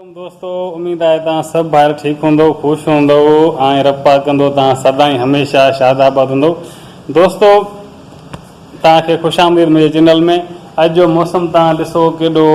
عليڪم دوستو اميد آهي توهان سڀ ڀائر ٺيڪ هوندؤ خوش هوندؤ ۽ رب پاڪ ڪندو توهان سدائين هميشه شاد آباد هوندؤ دوستو توهان کي خوش آمديد منهنجي چينل ۾ اڄ جو موسم توهان ڏسو ڪيڏو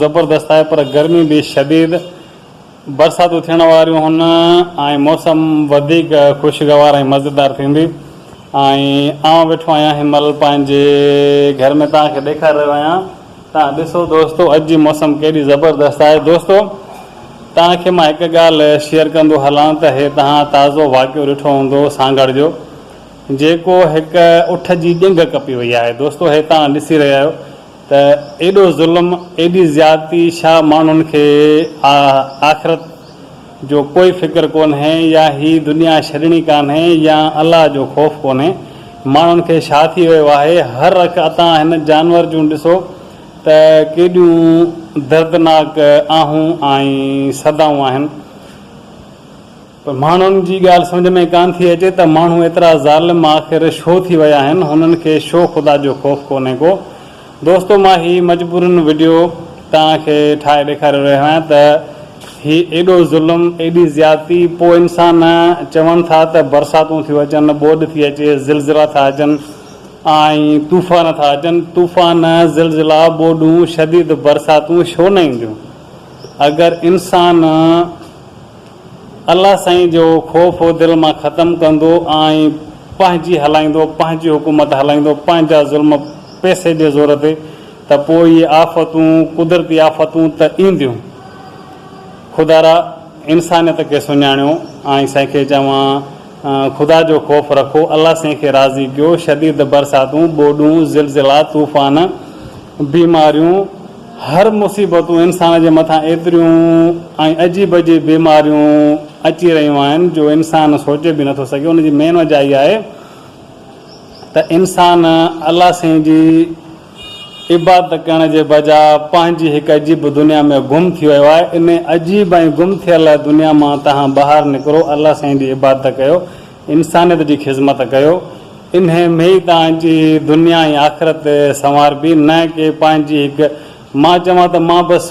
زبردست آهي پر گرمي به شديد برساتون ٿيڻ واريون هن ۽ موسم وڌيڪ خوشگوار ۽ مزيدار ٿيندي ۽ آئون ويٺو آهيان هن مهل پنهنجي گهر ۾ توهان کي ڏيکاري رهيو آهيان تان ڏسو دوستو اڄ جي موسم ڪيڏي زبردست آهي دوستو تان کي مان هڪ ڳالهه شيئر ڪندو هلان ته هي تان تازو واقعو ڏٺو هوندو سانگهڙ جو جيڪو هڪ اٺ جي ڄنگهه ڪپي وئي آهي دوستو هي تان ڏسي رهيا آهيو ته ايڏو ظلم ايڏي زيادتي شا ماڻهن کي آخرت جو ڪوئي فڪر ڪونهي يا هي دنيا ڇڏڻي ڪانهي يا الله جو خوف ڪونهي ماڻهن کي ڇا ٿي ويو آهي هر رخ اتان هن جانور جون ڏسو ته ڪيڏيون دردناڪ آهون ۽ صدائون آهن پر ماڻهن جي ڳالهه سمجهه ۾ ڪانه ٿي اچي ته ماڻهو ايترا ظالم آخر شو ٿي ويا آهن هنن کي شو خدا جو خوف ڪونهي ڪو دوستو مان هي مجبوراً وڊيو توهان کي ٺاهي ڏيکاري رهيو آهيان ته هي ايڏو ظلم ايڏي زيادتي پوء انسان چون ٿا ته برساتون ٿيون اچن ٻوڏ ٿي اچي زلزلا ٿا اچن ۽ طوفان ٿا اچن طوفان زلزلا ٻوڏون شديد برساتون شو نه اينديون اگر انسان الله سائين جو خوف دل مان ختم ڪندو ۽ پنهنجي هلائيندو پنهنجي حڪومت هلائيندو پنهنجا ظلم پئسي جي زور تي ته پوء اهي آفتون قدرتي آفتون ته اينديون خدارا انسانيت کي سڃاڻيو ۽ سائين کي چوان خدا جو خوف رکو الله سائين کي راضي ڪيو شديد برساتون ٻوڏون زلزلا طوفان بيماريون، هر مصيبتون انسان جي مٿان ايتريون ۽ عجيب عجيب بيماريون اچي رهيون آهن جو انسان سوچي به نٿو سگهي ان جي مين وجهه اها آهي ته انسان الله سائين جي عبادت ڪرڻ جي بجاء پنهنجي هڪ عجيب دنيا ۾ گم ٿي ويو آهي انهي عجيب ۽ گم ٿيل دنيا مان تهان ٻاهر نڪرو الله سائين جي عبادت ڪيو انسانيت جي خذمت ڪيو انهي ۾ توهان جي دنيا ۽ آخرت سنواربي نه ڪي پنهنجي هڪ مان چوان ته مان بس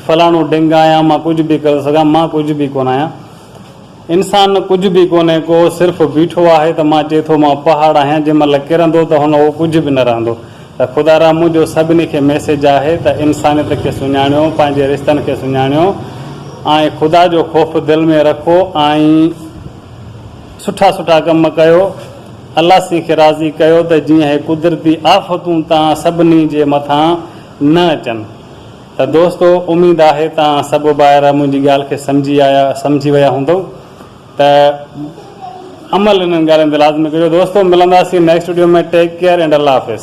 فلاڻو ڊنگ آهيان مان ڪجهه به ڪري سگهان مان ڪجهه به ڪونه آهيان انسان ڪجهه به ڪونهي ڪو صرف بيٺو آهي ته مان چئي ٿو مان پهاڙ آهيان جنهن مهل ڪرندو ته هن اهو ڪجهه به نه رهندو ته خدا را منهنجو سڀني کي ميسيج آهي ته انسانيت کي سڃاڻيو پنهنجي رشتن کي سڃاڻيو ۽ خدا جو خوف دل ۾ رکو ۽ سٺا سٺا ڪم ڪيو الله سين کي راضي ڪيو ته جيئن هي قدرتي آفتون تان سڀني جي مٿان نه اچن ته دوستو اميد آهي تان سڀ ڀائر منهنجي ڳالهه کي سمجهي آيا سمجهي ويا هوندؤ ته عمل انهن ڳالهين تي لازمي ڪجو دوستو ملنداسين next video ۾ take care and الله حافظ.